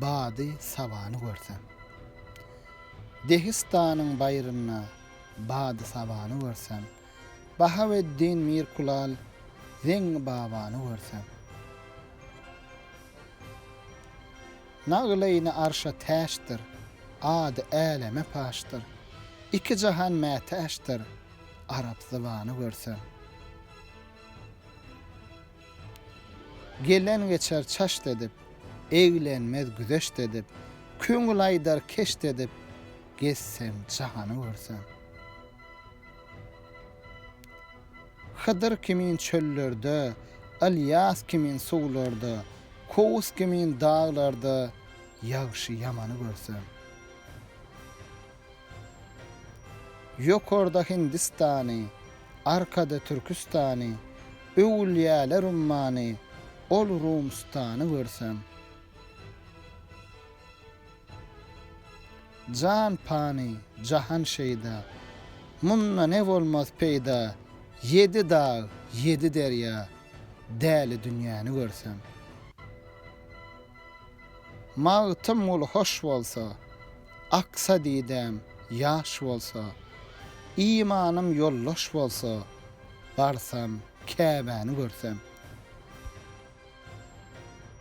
Bady sabany görsem. Dehistanyň baýrynda bady sabany görsem, Bahaweddin Mirkulal Zeňňi babany görsem. Nagylyny arşa täçdir, ady äleme paşdyr, Iki jahan mätäçdir, arap zybany görsem. Gelen geçer çaşt edip, eglenmez güzeşt edip, köňül aýdar keşt edip, gezseň jahany görseň. Hydyr kimin çöllerde, Ylýas kimin suwlarda, Kowus kimin daglarda ýagşy-ýamany görseň. Ýokarda Hindistany, arkada Türküstany, öwülýäler ummany, ol Rumstany görseň. Jan pany, jahan şeýda, munda ne bolmaz peýda, ýedi dag, ýedi derýa, däli dünýäni görseň. Magtymguly hoş bolsa, aksa didäm ýaş bolsa, imanym ýoldaş bolsa, barsam Käbäni görsem.